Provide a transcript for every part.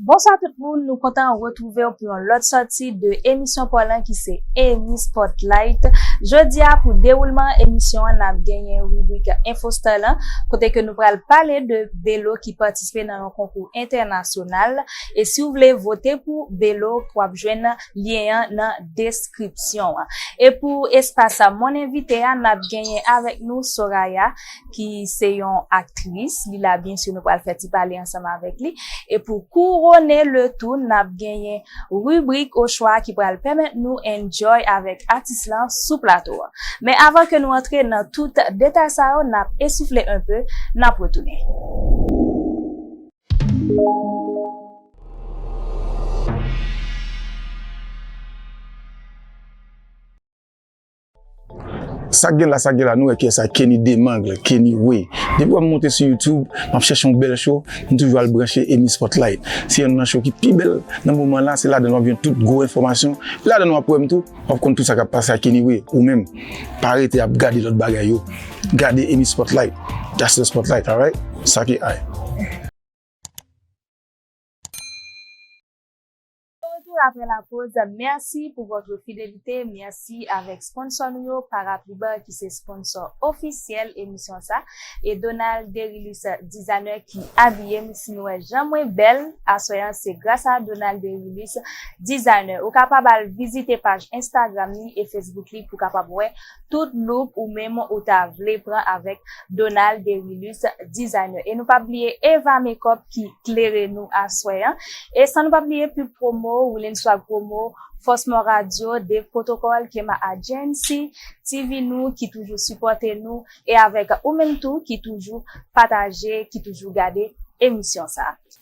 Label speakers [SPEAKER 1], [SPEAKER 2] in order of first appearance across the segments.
[SPEAKER 1] Bonswa tout moun nou kontan retrouvew pou yon lòt sòti de emisyon paw lan ki se Emmy Spotlight jodia pou dewoulman emisyon an nap genyen ribrik info star lan kote ke nou pral pale de Belo ki patisipe nan yon konkou entènasyonal e siw vle vote pou Belo wap jwenn lyen an nan deskripsyon an e pou espas mon envite a nap genyen avèk nou Soraya ki se yon aktris, li la byen si nou pral fè ti pale ansanm avèk li. E pou kourone le tou, n ap genyen ribrik ochwa ki pral pèmèt nou enjoy avèk atis lan sou plato a. Men avan ke nou antre nan tout detay sa yo, n ap esoufle enpe, n ap retounen.
[SPEAKER 2] Sak gen la sak gen la nou wè kiyès sa Kenny Demangle, Kenny Way. Depi wè m monte sou youtube, m ap chèche yon bèl show, m toujou al branche Emmy Spotlight. Se yonn nan show ki pi bèl nan moman la, se ladann w ap jwenn tout gwo enfòmasyon, e ladann w ap wè m tou, w ap konn tout sa k ap pase ak Kenny Way. Ou menm, pa rete ap gade lòt bagay yo, gade Emmy Spotlight, that's the spotlight, alright? Sa ki high.
[SPEAKER 1] De retour après la pause, merci pour votre fidélité, merci avec sponsor nou yo Parapliban ki se sponsor officiel emisyon sa e Donald Derilus designer ki abiyem si nou wè jan mwen bèl aswè an se gras a Donald Derilus designer ou kapab al vizite paj Instagram li e Facebook li pou kapab wè Tout look ou menm ou ta vle pran avèk Donald Derilus Designer. E nou pa bliye Eva Makeup ki klere nou aswè an. E san nou pa bliye Pub Promo, Woolen Swag Promo, Fosmor Radio, Dave Protocol, Kema Agency, TV Nou ki toujou sipòte nou e avèk ou menm tou ki toujou pataje, ki toujou gade emisyon sa a.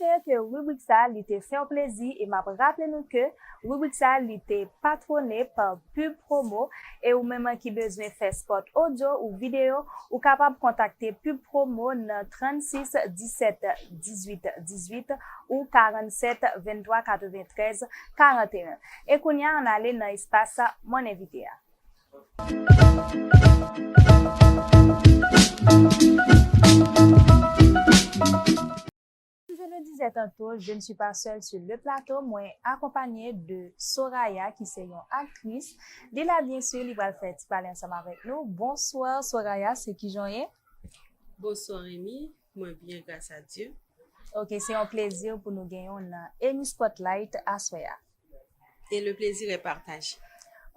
[SPEAKER 3] Espere ke ribrik
[SPEAKER 1] sa li te fèw plezi e map raple nou ke ribrik sa li te patwone pa Pub Promo e ou menm ki bezwen fè spot odyo ou video ou kapab kontakte Pub Promo nan 36 17 18 18 ou 47 23 93 41 e kounya an ale nan espas Mon Invité a. Kòm je le dizè tanto, je ne suis pas seule sur le plateau, mwen akonpanye de Soraya ki se yon aktris, li la byen sur li pral fè ti pale ansanm avèk nou. Bonsoir Soraya, se kijan w ye? Bonsoir
[SPEAKER 4] Remy, Mwen byen gras a Dye. Ok se yon
[SPEAKER 1] plezi pou nou genyenw nan Emmy Spotlight aswè a. Et le
[SPEAKER 4] plaisir est partagé.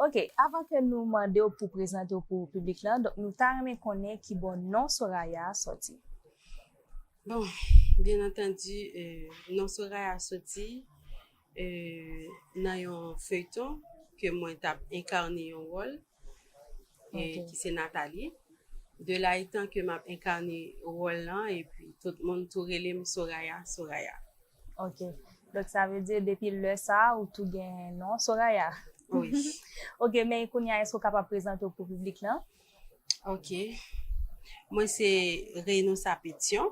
[SPEAKER 4] Ok
[SPEAKER 1] avan ke nou mandew pou prezantew pou piblik lan donk nou ta renmen konnen kibò non Soraya a sòti.
[SPEAKER 4] Bon, byen antandi non Soraya soti. nan yon feyton ke mwen tap enkarne yon wòl ki se Nathalie de la etan ke map enkarne wòl lan epi tout moun tou rele m Soraya Soraya.
[SPEAKER 1] Ok donk sa vle di depi lè sa ou tou gen non Soraya? Wi.
[SPEAKER 4] Ok men
[SPEAKER 1] kounya èske ou kapab prezante w pou piblik lan? Ok
[SPEAKER 4] mwen se Reynousa Petion.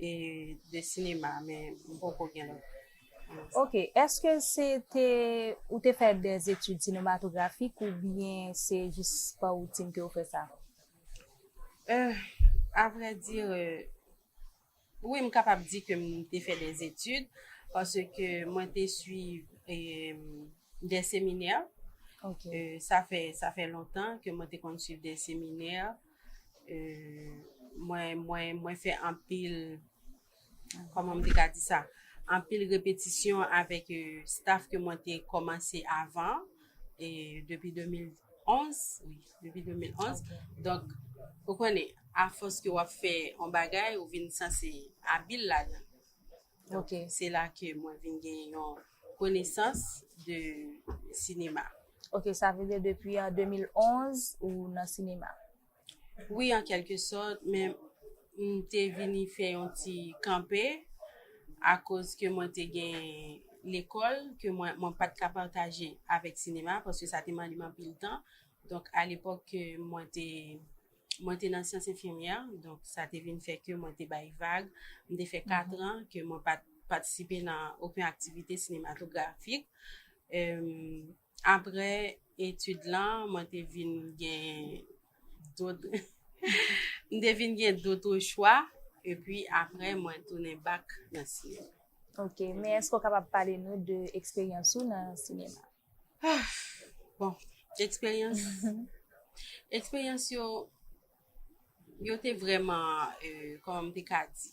[SPEAKER 4] E de sinema men m poko gen lòt. Ok,
[SPEAKER 1] eske se te ou te fè de etid sinematografik ou byen se jis pa woutin ke ou fè sa? Euh,
[SPEAKER 4] a vrè di, wi m kapab di ke m te fè de etid paske mwen te swiv de seminè. Ok.
[SPEAKER 1] Sa fè
[SPEAKER 4] lontan ke mwen te konn swiv de seminè. Mwen fè anpil, kòman m te ka di sa, anpil repetisyon avèk staf ke mwen te kòmanse avan, depi 2011, wi, depi 2011. Donk, ou konnen, afòs ke w ap fè yon bagay, ou vin sanse abil ladan. Donk se la ke mwen vin gen yon konesans de sinema. Ok, sa vle
[SPEAKER 1] di depi an 2011 ou nan sinema? Wi
[SPEAKER 4] an kelke sòt, men m te vini fè yon ti kanpe akoz ke mwen te gen lekòl ke mwen mwen pa t ka pataje avèk sinema paske sa te mande m anpil tan. Donk alepòk ke mwen te. Mwen te nan syans enfimyè, donk sa te vin fè ke mwen te bay vag. M te fè katran ke mwen pa t patisipe nan oken aktivite sinematografik. Apre etid lan, mwen te vin gen dot, m te vin gen doto chwa, epi apre mwen tounen bak nan sinema. Ok, men
[SPEAKER 1] èske ou kapab pale nou de eksperyans ou nan sinema? Ah
[SPEAKER 4] bon eksperyans eksperyans yo yo te vreman kòman m te ka di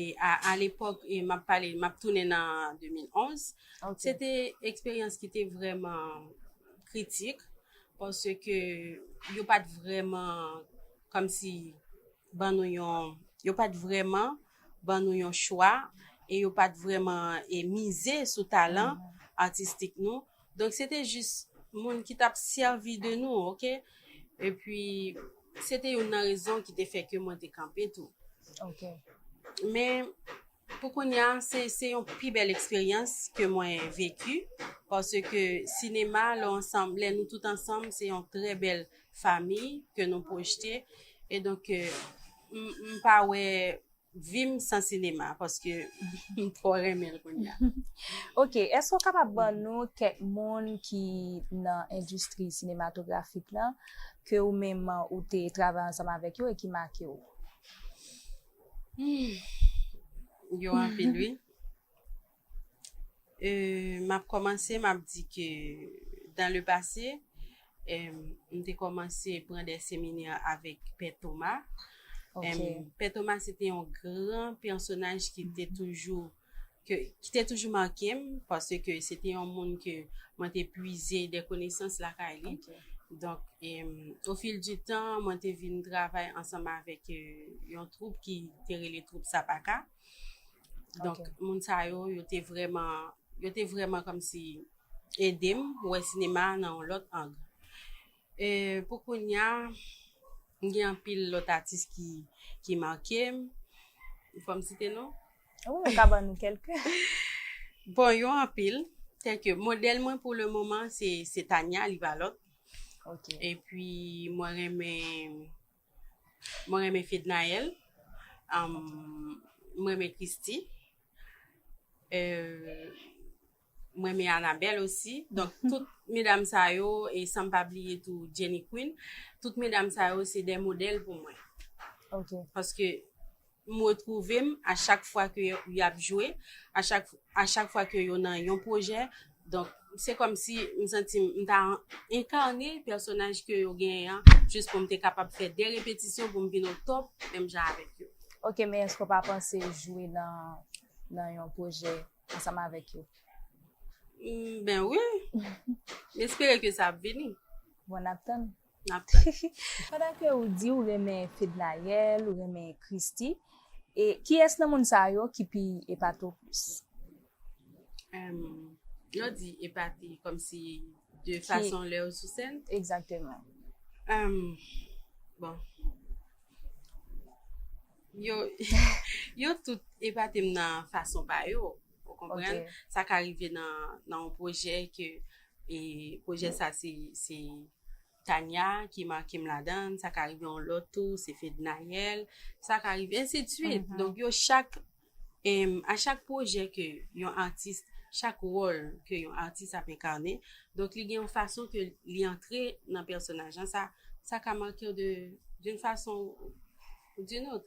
[SPEAKER 4] e a lepòk e m ap pale m ap tounen nan 2011 se te eksperyans ki te vreman kritik pòske yo pa t vreman kòmsi ban nou yon, yo pa t vrèman ban nou yon chwa e yo pa t vrèman e mize sou talan atistik nou, donk se te jis moun ki t ap sèvi de nou ok, epi se te youn nan rezon ki te fè ke mwen te kanpe tou. Ok.
[SPEAKER 1] Men
[SPEAKER 4] pou kounya se se yon pi bèl eksperyans ke mwen veki paske sinema lè w ansanm lè nou tout ansanm se yon trè bèl famiy ke nou pwojte e donk m pa wè vi m san sinema paske m twò renmen l kounya. Ok, èske
[SPEAKER 1] ou kapab ban nou kèk moun ki nan endistri sinematografik lan ke ou menm ou te travay ansanm avèk yo e ki make ou?
[SPEAKER 4] Yo anpil wi. Euh, map kòmanse map di ke dan le pase, em, m te kòmanse pran de seminè avèk Pè Toma. Em,
[SPEAKER 1] Pè Toma
[SPEAKER 4] se te yon gran pèsonaj ki te toujou, ke, ki te toujou make m, pase ke se te yon moun ke mwen te pwize de konesans lakay li. Donk,
[SPEAKER 1] em,
[SPEAKER 4] o fil di tan, mwen te vin travay ansanm avèk yon twoup ki te rele twoup Sapaka. Donk, moun sa yo, yo te vreman, yo te vreman kòm si ede m wè sinema a nan yon lòt ang. E pou kounya, m gen anpil lòt atis ki, ki make m. Fò m site non? Wi, ou ka ban nou
[SPEAKER 1] kèlke. Bon,
[SPEAKER 4] yo anpil. Tèlke, modèl mwen pou le moman se, se Tania Livalot. Ok.
[SPEAKER 1] Epi
[SPEAKER 4] mwen renmen. Mwen renmen Fednaelle, mwen renmen Christy, mwen renmen Anabelle osi. Donk tout medam sa yo, e san m pa bliye tou Jenny Queen, tout medam sa yo se de modèl pou mwen. Ok.
[SPEAKER 1] Paske
[SPEAKER 4] M retrouve m a chak fwa ke y ap jwe, a chak a chak fwa ke yo nan yon pwojè. Donk, se kòm si m santi m ta enkarne pèsonaj ke yo genyen an jis pou m te kapab fè de repetisyon pou m vin o top menm jan avèk yo. Ok, men èske w pa
[SPEAKER 1] panse jwe nan nan yon pwojè ansanm avèk yo? M
[SPEAKER 4] ben wi! M espere ke sa ap vini. Bon, n ap tann.
[SPEAKER 1] nap tann.
[SPEAKER 4] Pandan ke
[SPEAKER 1] ou di ou renmen Fednaelle, ou renmen Christy, e kiyès nan moun sa yo ki pi epate ou plis?
[SPEAKER 4] Lè w di epate kòmsi de fason lè yo sou sèn? Egzakteman. Bon, yo tout epate m nan fason pa yo. Ou konprann? Sa ka
[SPEAKER 1] rive
[SPEAKER 4] nan yon pwojè ke pwojè sa se Tania ki make m ladan, sa ka rive yon lòt tou se Fednaelle, sa ka rive ensi de swit. Donk yo chak, a chak pwojè ke yon atis, chak wòl ke yon atis ap enkane, donk li gen yon fason ke li antre nan pèsonaj lan, sa ka make w de, d'une façon ou d'une autre.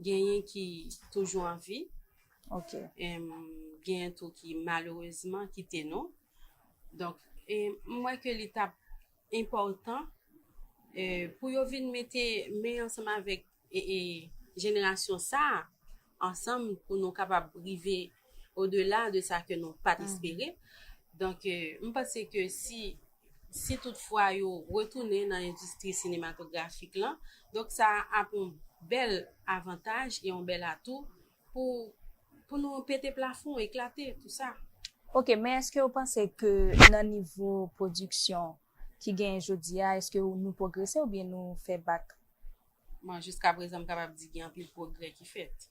[SPEAKER 4] Genyen ki toujou an vi. Ok. Genyen tou ki malerezman kite nou. Donk, m wè ke li t ap enpòtan pou yo vin mete men ansanm avèk jenerasyon sa a, ansanm pou nou kapab rive odela de sa ke nou pa t espere. Donk, m panse ke si si tout fwa yo retounen nan endistri sinematografik lan, donk sa ap yon bèl avantaj e yon bèl atou pou pou nou pete plafon, eklate tou sa. Ok, men eske
[SPEAKER 1] ou panse ke nan nivo pwodiksyon ki genyen jodi a, eske ou nou pwogrese oubyen nou fè bak? Bon,
[SPEAKER 4] jiska prezan m kapab di gen anpil pwogrè ki fèt.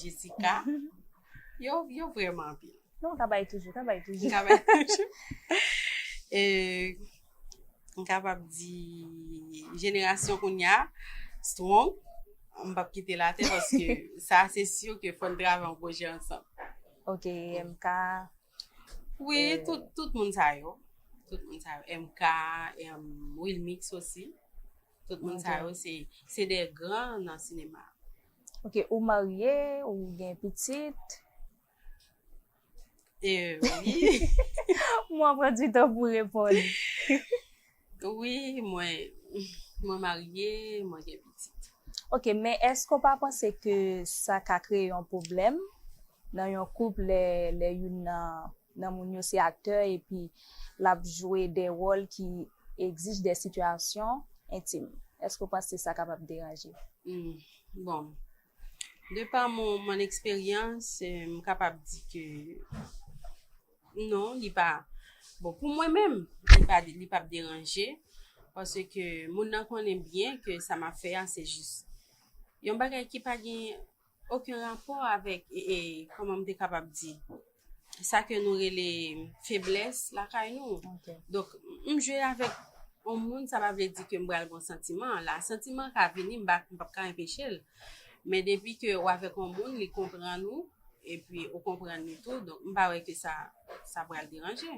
[SPEAKER 4] Jessica. Yo, yo vreman anpil. Non, ka bay toujou, ka
[SPEAKER 1] bay toujou. Ka bay toujou. E,
[SPEAKER 4] m kapab di, jenerasyon koun ya, strong, m pap kite la te, paske sa se syo ke fòn drave an pwojè ansan. Ok,
[SPEAKER 1] MK. Oui,
[SPEAKER 4] euh, tout, tout moun sa yo. Tout moun sa yo. MK, Wilmix osi. Tout moun sa yo se se de gran nan sinema. Ok ou
[SPEAKER 1] marye ou gen pitit.
[SPEAKER 4] Mwen
[SPEAKER 1] ap pran ti tan pou reponn.
[SPEAKER 4] Wi mwen mwen marye mwen gen pitit. Ok men
[SPEAKER 1] eske ou pa panse ke sa ka kreye yon pwoblèm nan yon koup lè youn nan nan moun yo se aktè epi l ap jwe de wòl ki egzij de sitiyasyon entim. Èske w panse sa kapab deranje? Hum, bon.
[SPEAKER 4] De pa mon eksperyans, m kapab di ke non, li pa, bon pou mwen menm, li pa, li p ap deranje, paske moun nan konnen byen ke sa m ap fè a se jis yon bagay ki pa gen oken rapò avèk kòman m te kapab di sa ke nou rele feblès lakay nou donk
[SPEAKER 1] m jwe
[SPEAKER 4] avèk yon moun sa pa vle di ke m pral gen yon santiman la santiman ka vini m pap ka enpeche l men depi ke ou avèk yon moun li konprann ou epi ou konprann li tou donk m pa wè ke sa sa pral deranje.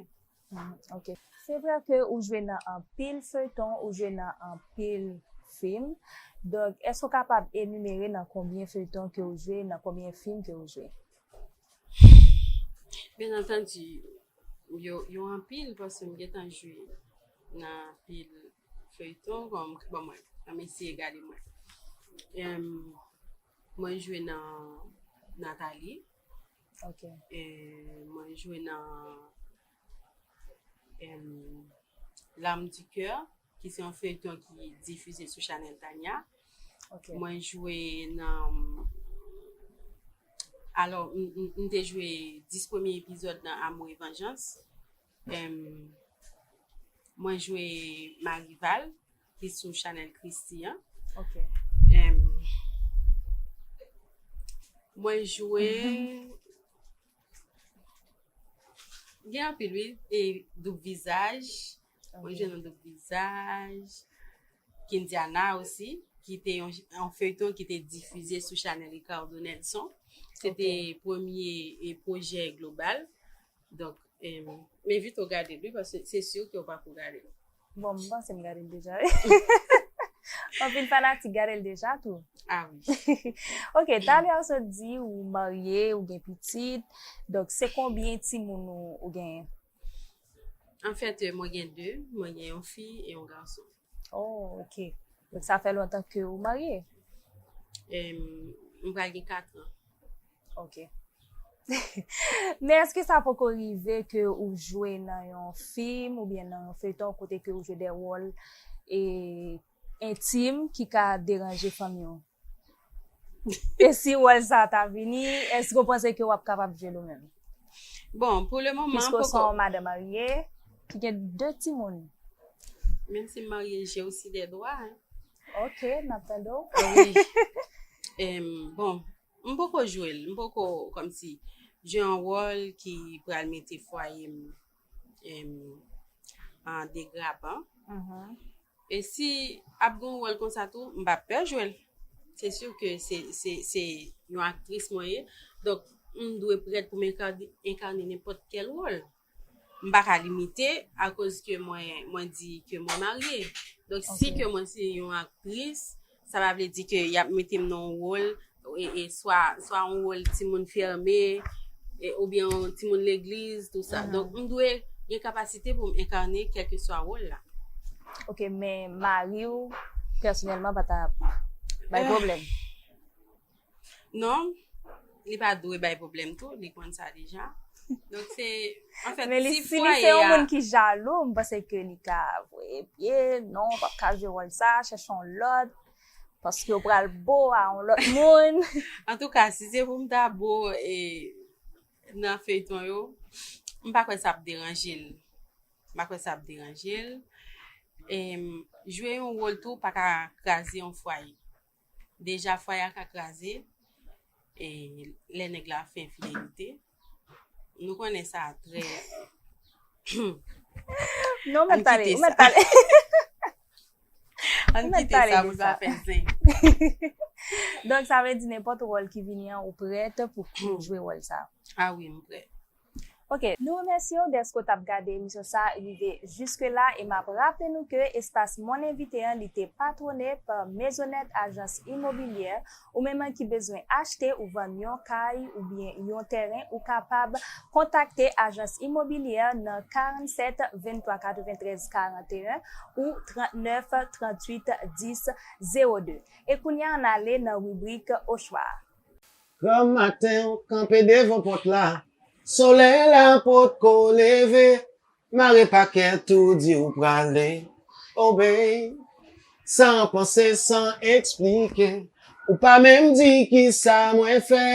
[SPEAKER 4] Ok
[SPEAKER 1] se vre ke ou jwe nan anpil feyton ou jwe nan anpil film donk eske ou kapab enumere nan konbyen feyton ke ou jwe nan konbyen film ke ou jwe.
[SPEAKER 4] Byen antandi yo anpil paske m gentan jwe nan anpil feyton bon mwen anm eseye gade mwen jwe nan Nathalie. Ok.
[SPEAKER 1] E,
[SPEAKER 4] mwen jwe nan em, L'âme du cœur, ki se yon feyton ki difize sou chanèl Tania. Ok. Mwen
[SPEAKER 1] jwe
[SPEAKER 4] nan alò m m te jwe 10 premye epizòd nan Amour et Vengeance Em Mwen jwe Marival ki sou Chanel Christie an. Ok.
[SPEAKER 1] Em
[SPEAKER 4] Mwen jwe Gen anpil wi e doub vizaj. Mwen jwe nan doub vizaj. Kindiana osi ki te yon feyton ki te difize sou Chanel Ricardo Nelson. Se te premye e pwojè global. Donk em envite w gade l wi paske se sur ke w pa ko gade l. Bon m panse
[SPEAKER 1] m gade l deja wi. Anpil fanatik gade l deja tou. Ah wi.
[SPEAKER 4] Ok
[SPEAKER 1] talè ou sot di ou marye ou gen pitit donk se konbyen timoun ou genyen?
[SPEAKER 4] Anfèt mwen gen 2, mwen gen yon fi e yon gason. Oh ok,
[SPEAKER 1] donk sa fè lontan ke ou marye? E,
[SPEAKER 4] m pral gen 4 an. Ok.
[SPEAKER 1] Men eske sa poko rive ke ou jwe nan yon fim oubyen nan yon feyton kote ke ou jwe de wòl e entim ki ka deranje fanmi ou? E si wòl sa ta vini, èske ou panse ke wap kapab jwe l ou menm? Bon, pou
[SPEAKER 4] le moman, poko. Piske ou se yon madan
[SPEAKER 1] marye, ki gen 2 timoun. Menm
[SPEAKER 4] si m marye, j'ai aussi des droits, hein. Ok, nap
[SPEAKER 1] tande w.
[SPEAKER 4] Bon, m poko jwe l, m poko kòmsi jwe yon wòl ki pral mete fwaye m. an degraban e si ap gen yon wòl konsa tou m pa pè jwe l se si ke se yon aktris mwen ye donk m dwe prèt pou m enkane nenpòt kèl wòl m pa ka limite akoz ke mwen di ke mwen marye donk si ke mwen se yon aktris Sa pa vle di ke y ap mete m nan yon wòl, swa yon wòl timoun fème, oubyen yon timoun legliz, tou sa. Donk, m dwe gen kapasite pou m enkane kèlkeswa wòl la. Ok, men
[SPEAKER 1] mari ou, pèsonèlman pa ta bay pwoblèm?
[SPEAKER 4] Non, li pa dwe bay problem tou, li konn sa deja. Donk se, an fèt, si fwaye a... Men li se yon moun
[SPEAKER 1] ki jalou, mwen se ke li ka vwe pye, non, pa ka jwe wòl sa, chèche yon lòt, paske yo pral bo a yon lòt moun. An tou ka, si
[SPEAKER 4] se pou m ta bo e nan feyton yo, m pa kwè sa ap deranje l. M pa kwè sa ap deranje l. E jwe yon wòl tou pa ka kraze yon fwaye. Deja fwaye a ka kraze e lè nèg la fè enfidelite. Nou konnen sa trè.
[SPEAKER 1] Non mwen pale, mwen pale.
[SPEAKER 4] An mwen pale pou sa fè zen.
[SPEAKER 1] Donk sa vle di nenpòt wòl ki vini an ou prèt pou jwe wòl sa. A wi mwen prèt.
[SPEAKER 4] Ok
[SPEAKER 1] nou remèsyew dèske w tap gade emisyon sa rive jiske la e map raple nou ke espas Mon Invité an li te patwone pa Maisonette Agence Immobilière ou menm an ki bezwen achte ou vann yon kay oubyen yon tèren ou kapab kontakte Agence Immobilière nan 47 23 93 41 ou 39 38 10 02 e kounya an ale nan ribrik ochwa a. Granm
[SPEAKER 5] maten ou kanpe devan pòt la Solèy la potko leve Mare pakèt ou di ou prale Oh babe San panse san eksplike Ou pa menm di kisa mwen fè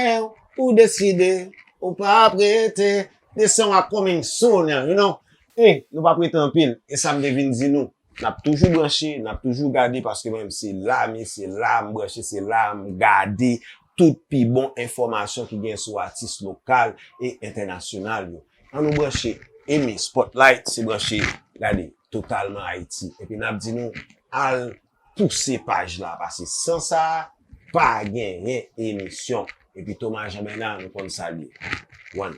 [SPEAKER 5] Ou deside ou pa ap rete Desanw a coming soon you know Ey nou pa prete anpil Esam te vin di nou. Nap toujou branche, nap toujou gade paske mwen menm se la m ye, se la m branche, se la m gade tout pi bon enfòmasyon ki gen sou atis lokal e entènasyonal yo. An nou branche eme Spotlight se branche gade totalman Ayiti. Epi nap di nou al pouse paj la pase san sa pa genyen emisyon. Epi Thomas Jean Bernard nou konn sa l ye. One.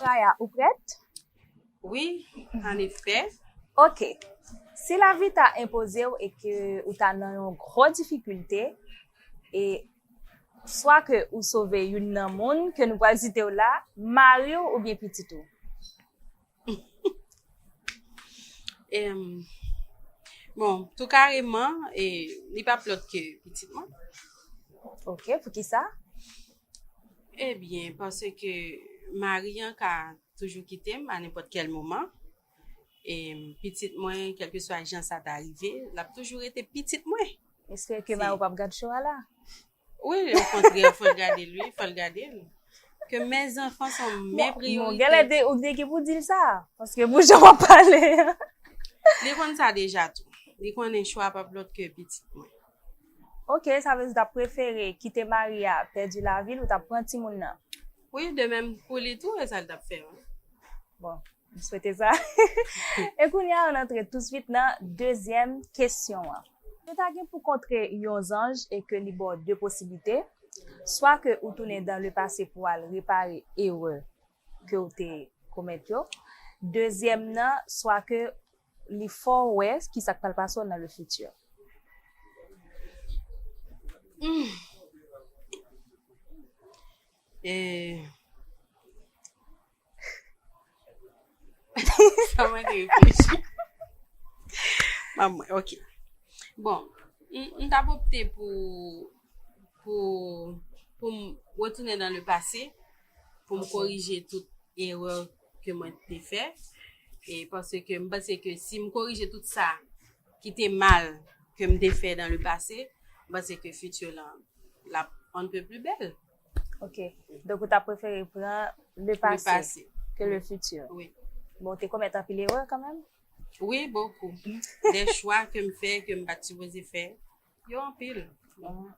[SPEAKER 1] Raya, ou prèt? Wi,
[SPEAKER 4] an efè. Ok.
[SPEAKER 1] Si lavi ta enpoze ou e ke ou ta nan yon gro difikilte, e swa ke ou sove youn nan moun ke nou pral site ou la, mari ou oubyen pitit ou.
[SPEAKER 4] Bon, tou kareman, li pa plòt ke pitit mwen.
[SPEAKER 1] Ok, pou ki sa?
[SPEAKER 4] Ebyen, eh panse ke mari an ka toujou kite m a nenpòt kèl moman. E pitit mwen, kèlke swa jan sa ta rive, l ap toujou rete pitit mwen. Espere ke mari w
[SPEAKER 1] pa p gad cho a la. Wi wi
[SPEAKER 4] okontrè fòl gadel wi fòl gadel ke mè zanfan son mè priyorite. Bon genlè ou te gen
[SPEAKER 1] pou dil sa paske pou jan wap pale an. Li konn
[SPEAKER 4] sa deja tou. Li konnen chwa pap lòt ke pitit mwen. Ok
[SPEAKER 1] sa vle di ou tap prefere kite mari a pèdi lavil ou tap pran timoun nan. Wi de menm
[SPEAKER 4] pou li tou e sal tap fè. Bon.
[SPEAKER 1] M swete sa. E kounye a, ann antre touswit nan dezyèm kesyon an. Si w ta gen pou kontre yon zanj e ke li ba w de posiblite, swa ke ou tounen dan le pase pou w al repare erè ke w te komèt yo, dezyèm nan, swa ke li fè w wè ki sa k pral pase w nan le fiti.
[SPEAKER 4] Sa mwen te reflechi. Mwen mwen, ok. Bon, m tap opte pou, pou, pou m retounen nan le pase, pou m korije tout erè ke mwen te fè, e panse ke m panse ke si m korije tout sa ki te mal ke m te fè nan le pase, m panse ke fiti lan, lap on ne peut plus belle. Ok,
[SPEAKER 1] donk ou ta prefere pran le pase ke le futur? Oui. Bon, ou te
[SPEAKER 4] komèt
[SPEAKER 1] anpil erè kan menm? Oui, bokou.
[SPEAKER 4] De chwa ke m fè, ke m pa t sipoze fè, yo anpil.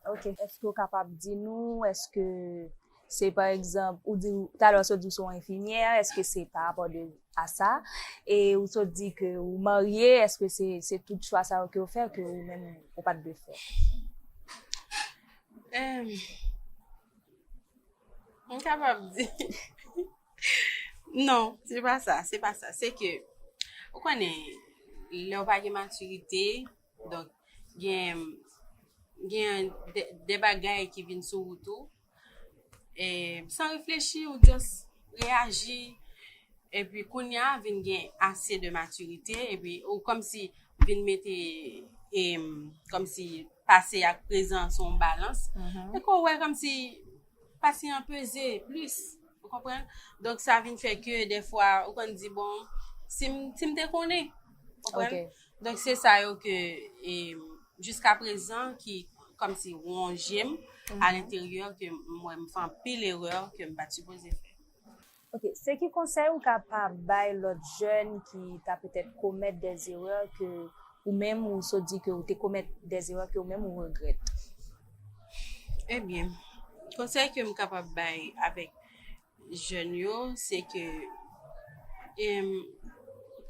[SPEAKER 4] Ok,
[SPEAKER 1] eske ou kapab di nou, eske se pa egzanp, ou di, talè ou sot di ou se yon enfimyè, eske se pa rapò de a sa? E ou sot di ke ou marye, eske se tout chwa sa yo ke ou fè, ke ou menm ou pa t vle fè?
[SPEAKER 4] M kapab di Non, se pa sa, se pa sa Se ke, ou konnen Lè ou pa gen matirite Donk, gen Gen de bagay ki vin sou wout ou E, san reflechi ou just Reaji E pi kounye a vin gen ase de matirite E pi ou komsi vin mete E, komsi Pase ak prezan se yon balans. E ke w wè kòmsi pase an peze plis. Ou konprann? Donk sa vin fè ke dèfwa ou konn di bon, si m si m te konnen. Ou konprann? Donk se sa yo ke e jiskaprezan ki kòmsi wonje m alenteryè ke m wè m fè anpil erè ke m pa t sipoze fè. Ok, se
[SPEAKER 1] ki konsèy ou ka pa bay lòt jèn ki ta petèt komèt dè zerè ke ou menm ou sot di ke ou te komèt dè zerè ke ou menm ou regrèt?
[SPEAKER 4] Ebyen, konsèy ke m kapab bay avèk jèn yo, se ke em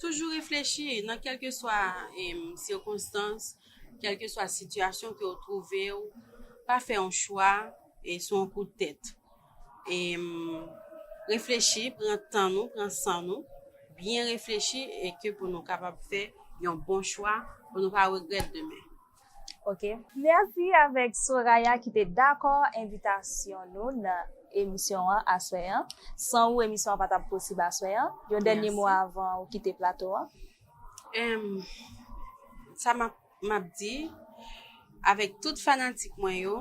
[SPEAKER 4] toujou reflechi nan kèlke swa em sikonstans, kèlke swa sitiyasyon ke ou twouve ou, pa fè yon chwa e sou yon kout tèt. e reflechi pran tan nou pran san nou byen reflechi e ke pou nou kapab fè yon bon chwa pou nou pa regrèt demen ok.
[SPEAKER 1] Mèsi avèk Soraya ki te dakò envitasyon nou nan emisyon an aswè an san ou emisyon an pa tap posib aswè an yon dènye mo avan ou kite plato an.
[SPEAKER 4] Sa map Map di avèk tout fanatik mwen yo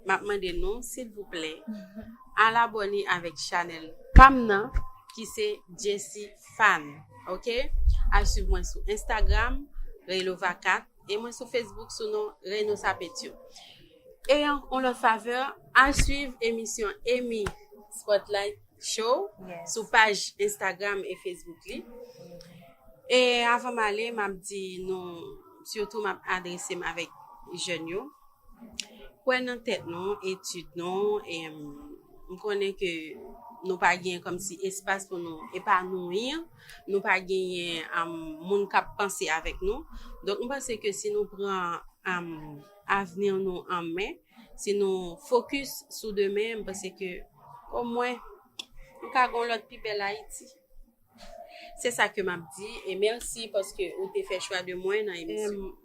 [SPEAKER 4] map mande nou silvouplè al abòne avèk chanèl pam nan ki se Jessie Fan ok al swiv mwen sou Instagram Reylova 4 e mwen sou Facebook sou non Reynosa Pétion e yon lòt favè al swiv emisyon Emmy Spotlight. Show sou paj Instagram e Facebook li. E avan m ale, m ap di nou, sitou m ap adrese m avèk jèn yo, kwè nan tèt nou, etid nou, e m konnen ke nou pa gen kòmsi espas pou nou epanouyi, nou pa genyen moun k ap panse avèk nou. Donk m panse ke si nou pran avni nou an men, Si nou fokis sou demen, m panse ke omwen nou ka gon lòt pi bèl Ayiti. Se sa ke m ap di e mèsi paske ou te fè chwa de mwen nan emisyon an.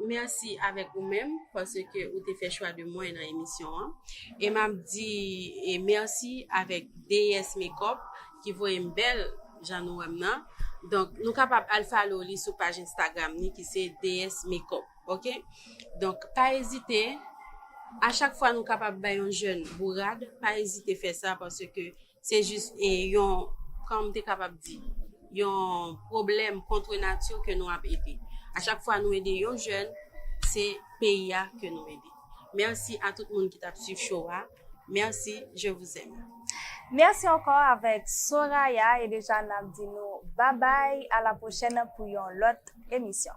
[SPEAKER 4] Mèsi avèk ou menm paske ou te fè chwa de mwen nan emisyon an. E m ap di mèsi avèk Deyès Mekòp ki voye m bèl jan nou wè m nan. Donk nou kapab al follow li sou paj Instagram li ki se Deyès Mekòp. Ok donk pa ezite a chak fwa nou kapab bay yon jèn bourad pa ezite fè sa paske se jis e yon kòm te kapab di yon pwoblèm kontre nati ke nou ap ede a chak fwa nou ede yon jèn se peyi a ke nou ede mèsi a tout moun ki tap swiv cho a mèsi je vouzèm. Mèsi ankò
[SPEAKER 1] avèk Soraya e deja nap di nou babay a la pwochèn pou yon lòt emisyon.